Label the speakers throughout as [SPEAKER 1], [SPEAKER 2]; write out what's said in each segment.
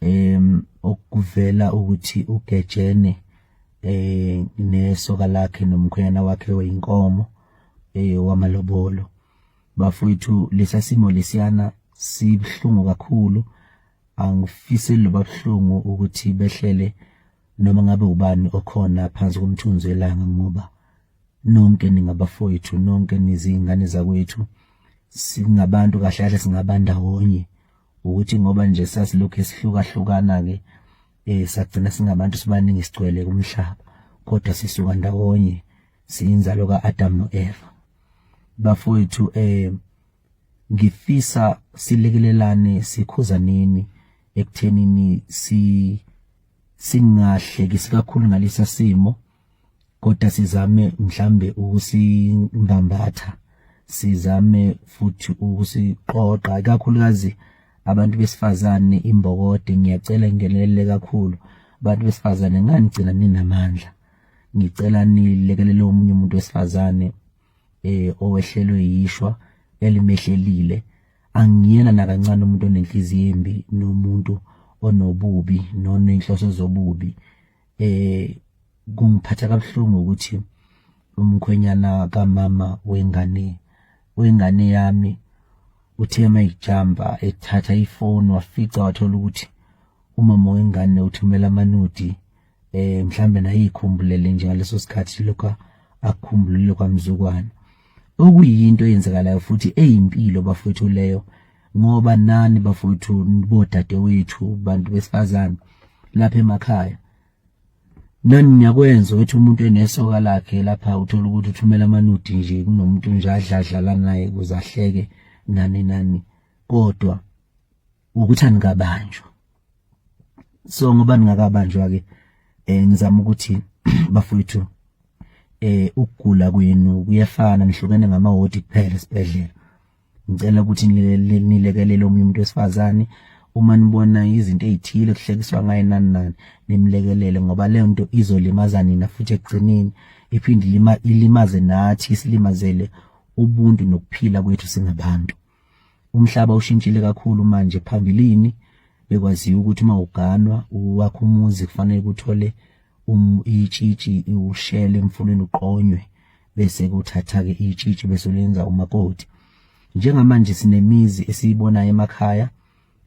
[SPEAKER 1] em okuvela ukuthi ugejene eh nesoka lakhe nomkhwenyana wakhe oyinkomo eh wamalobolo bafowethu lesasimo lesiyana sibhlungu kakhulu angifise loba buhlungu ukuthi behlele noma ngabe ubani okhona phansi komthunzi welanga ngoba nonke ningabafowethu nonke nizingane zakwethu singabantu kahle kahle singabandawonye ukuthi ngoba nje sasilokhu sihlukahlukana ke eh sagcina singabantu sibaningi sigcwele kumhlaba kodwa sisuka ndawonye siyinzalo kaAdam noEva bafowethu eh ngifisa silekelelane sikhuzaneni ekuthenini si singahlekisi kakhulu ngalesa simo si kodwa sizame mhlambe ukusingambatha sizame futhi ukusiqoqa kakhulukazi abantu besifazane imbokode ngiyacela ngenelele kakhulu abantu besifazane nganigcina ninamandla ngicela nilekelele omunye umuntu wesifazane eh owehlelwe yishwa elimehlelile angiyena nakancane umuntu onenhliziyo embi nomuntu onobubi nonenhloso zobubi eh kungiphatha kabuhlungu ukuthi umkhwenyana kamama wengane wengane yami uthe mayijamba ethatha ifoni wafica wathola ukuthi umama wengane uthumela amanudi eh mhlambe nayikhumbulele nje ngaleso sikhathi lokho akhumbulile kwamzukwana okuyinto eyenzekalayo futhi eyimpilo bafowethu leyo ngoba nani bafowethu bodadewethu bantu besifazane lapha emakhaya nani niyakwenza ukuthi umuntu enesoka lakhe lapha uthola ukuthi uthumela amanudi nje kunomuntu nje adladlala naye kuze ahleke nani nani kodwa ukuthi anikabanjwa so ngoba ningakabanjwa ke eh ngizama ukuthi bafowethu eh ukugula kwenu kuyefana nihlukene ngamawodi kuphela esibhedlela ngicela ukuthi nilekelele omunye umuntu wesifazane uma nibona izinto ezithile kuhlekiswa ngaye nani nani nimlekelele ngoba leyo nto izolimaza nina futhi ekugcineni iphinde ilimaze nathi isilimazele ubuntu nokuphila kwethu singabantu umhlaba ushintshile kakhulu manje phambilini bekwaziwa ukuthi uma uganwa wakho umuzi kufanele kuthole um, itshitshi ushele emfuleni uqonywe bese kuthatha-ke itshitshi bese ulenza umakoti njengamanje sinemizi esiyibonayo emakhaya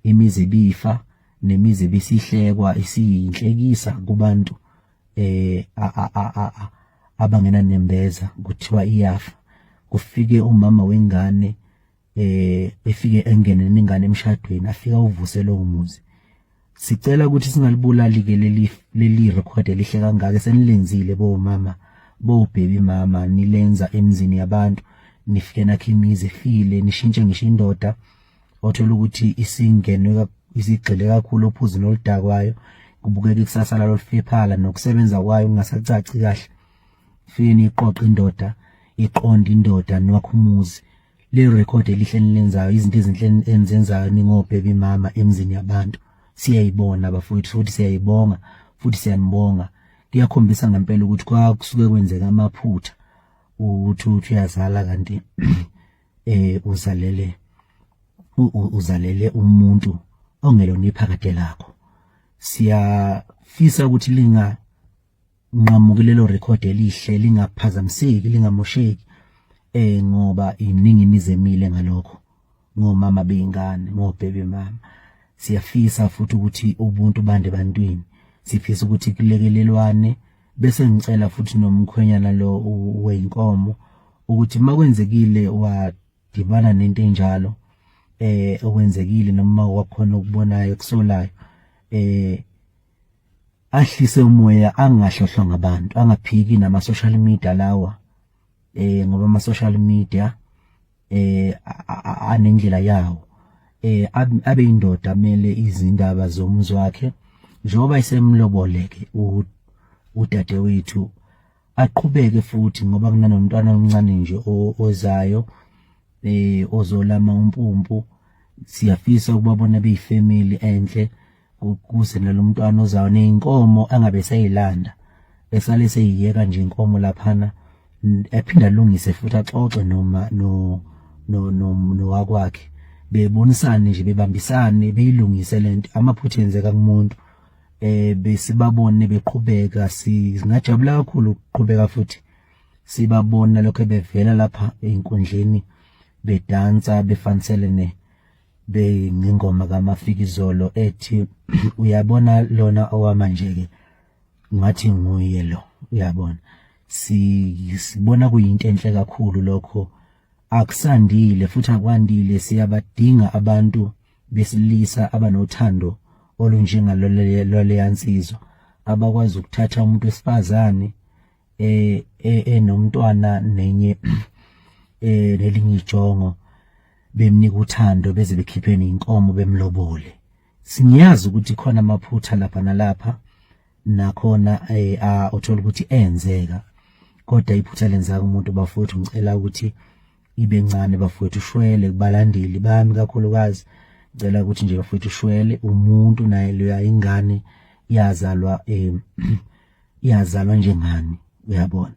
[SPEAKER 1] imizi ebifa nemizi ebisihlekwa isiyinhlekisa kubantu eh abangena nembeza kuthiwa iyafa kufike umama wengane eh efike engene ningane emshadweni afika uvusele umuzi sicela ukuthi singalibulali ke leli leli record elihle kangaka senilenzile bo mama bo baby mama nilenza emzini yabantu nifike nakhe imizi efile nishintshe ngisho indoda othola ukuthi isingenwe isigxile kakhulu ophuzini oludakwayo kubukeka ikusasa lalo lifephala nokusebenza kwayo kungasacaci kahle fike niqoqe indoda iqonda indoda nwakhumuzi le record elihle nilenzayo izinto ezinhle enizenzayo ningobheki mama emzini yabantu siyayibona bafowethu futhi siyayibonga futhi siyanibonga kuyakhombisa ngempela ukuthi kwakusuke kwenzeka amaphutha ukuthi uthi uyazala kanti eh uzalele uzalele umuntu ongelona iphakade lakho siyafisa ukuthi linga nqamukilelo record elihle lingaphazamiseki lingamosheki eh ngoba iningi imizemile ngalokho ngomama beyingane ngobhebe mama siyafisa futhi ukuthi ubuntu bande bantwini sifisa ukuthi kulekelelwane bese ngicela futhi nomkhwenyana lo weyinkomo ukuthi makwenzekile wadibana nento enjalo eh okwenzekile noma wakhona ukubonayo kusolayo eh ahlise umoya angahlohlwa ngabantu angaphiki nama social media lawa eh ngoba ama social media eh anendlela yawo eh abe indoda mele izindaba zomzi wakhe njengoba isemloboleke udade wethu aqhubeke futhi ngoba kunanomntwana omncane nje ozayo eh ozolama umpumpu siyafisa ukubabona beyifamily enhle ukuze nalomntwana ozayo neyinkomo angabe seyilanda esale seyiyeka nje inkomo laphana ephinda lungise futhi axoxe noma no no no nowakwakhe bebonisane nje bebambisane beyilungise lento amaphutha enzeka kumuntu eh besibabone beqhubeka singajabula kakhulu ukuqhubeka futhi sibabona lokho bevela lapha einkundleni bedansa befanisele ne beyingoma kamafikizolo ethi uyabona lona owamanje-ke ngathi nguye lo uyabona sibona kuyinto enhle kakhulu lokho akusandile futhi akwandile siyabadinga abantu besilisa abanothando olunjengaloleleyansizwa abakwazi ukuthatha umuntu wesifazane eh, eh enomntwana nenye eh lelinye ijongo bemnika uthando beze bekhipheni inkomo bemlobole singiyazi ukuthi khona amaphutha lapha nalapha nakhona eh uthola ukuthi enzeka kodwa iphutha lenzaka umuntu bafowethu ngicela ukuthi ibe ncane bafowethu ushwele kubalandeli bami kakhulukazi ngicela ukuthi nje bafowethu ushwele umuntu naye leya ingane yazalwa eh iyazalwa njengani uyabona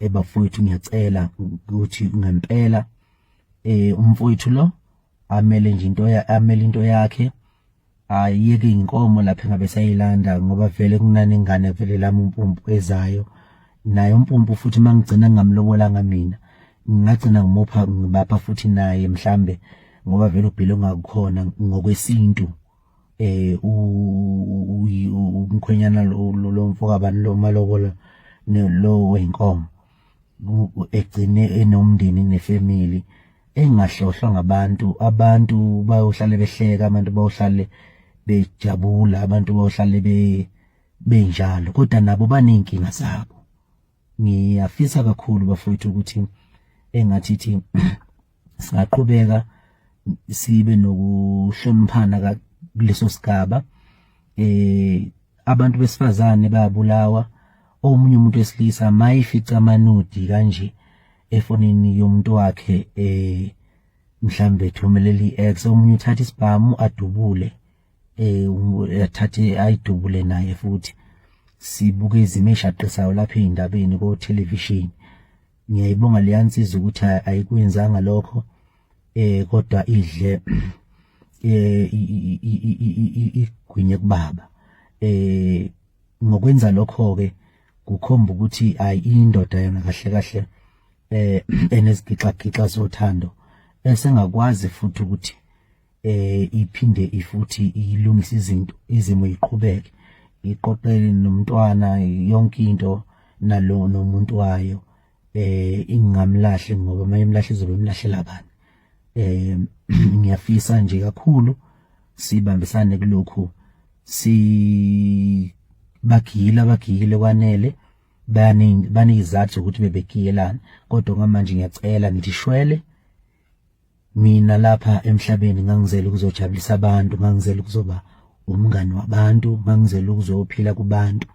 [SPEAKER 1] ebafowethu ngiyacela ukuthi ngempela eh umfowethu lo amele nje into amele into yakhe ayeke inkomo lapha engabe sayilanda ngoba vele kunani ingane vele lami umpumpu ezayo naye umpumpu futhi mangigcina ngamlobolanga mina ngingagcina ngimupha ngibapha futhi naye mhlambe ngoba vele ubhile ongakukhona ngokwesintu eh umkhwenyana lo mfokabani lo malobola lo wenkomo egcine enomndeni nefamily engahlohlwa ngabantu abantu bayohlale behleka abantu bayohlale bejabula abantu bayohlale be benjalo kodwa nabo baney'nkinga zabo ngiyafisa kakhulu bafowethu ukuthi engathi thi singaqhubeka sibe nokuhloniphana kuleso sigaba eh abantu besifazane bayabulawa omunye umuntu wesilisa mayifica amanudi kanje efonini yomuntu wakhe eh mhlambe thumeleli ex omunye uthatha isibhamu adubule eh yathathe ayidubule naye futhi sibuke izimo eshaqisayo lapha ezindabeni ko television ngiyayibonga leyansiza ukuthi ayikwenzanga lokho eh kodwa idle eh igwinye kubaba eh ngokwenza lokho ke kukhomba ukuthi ayi indoda yona kahle kahle eh enezigixagixa zothando esengakwazi futhi ukuthi eh iphinde ifuthi ilungise izinto izimo iqhubeke iqoqele nomntwana yonke into nalo nomuntu wayo eh ingamlahle ngoba mayemlahle izobe imlahlela bani eh ngiyafisa nje kakhulu sibambisane kulokhu si bagile abagile kwanele baningi banizathu ukuthi bebegiyelana kodwa ngamanje ngiyacela ngithi shwele mina lapha emhlabeni ngangizela ukuzojabulisa abantu ngangizela ukuzoba umngani wabantu ngangizela ukuzophila kubantu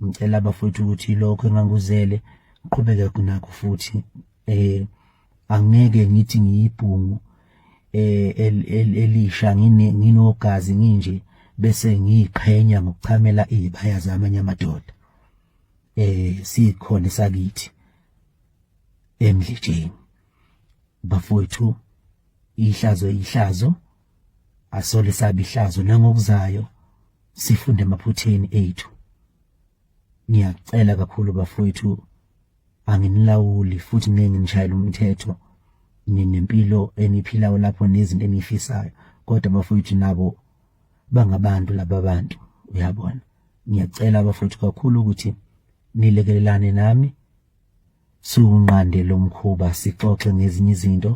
[SPEAKER 1] ngicela abafowethu ukuthi lokho enganguzele ngiqhubeke nakho futhi eh angeke ngithi ngiyibhungu eh elisha ngine nginogazi nginje bese ngiqhenya ngokuchamela izibaya zamanye amadoda eh sikhona sakithi emdletsheni bafowethu ihlazo ihlazo asole sabe ihlazo nangokuzayo sifunde emaphutheni ethu ngiyacela kakhulu bafowethu anginilawuli futhi ngeke nginishayele umthetho ninempilo eniphilayo lapho nezinto enifisayo kodwa bafowethu nabo bangabantu laba bantu uyabona ngiyacela bafowethu kakhulu ukuthi nilekelelane nami Siwunqande lo mkhuba sixoxe ngezinye izinto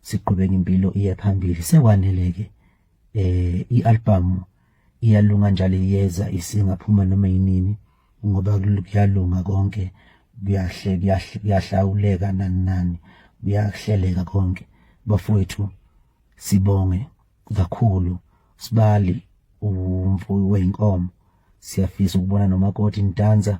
[SPEAKER 1] siqhubeke impilo iye phambili sekwaneleke eh ialbum iyalunga njalo iyeza isingaphuma noma yinini ngoba kuyalunga konke kuyahle kuyahle kuyahlawuleka nani nani kuyahleleka konke bafowethu sibonge kakhulu sibali umfuyi weyinkomo siyafisa ukubona nomakoti nidansa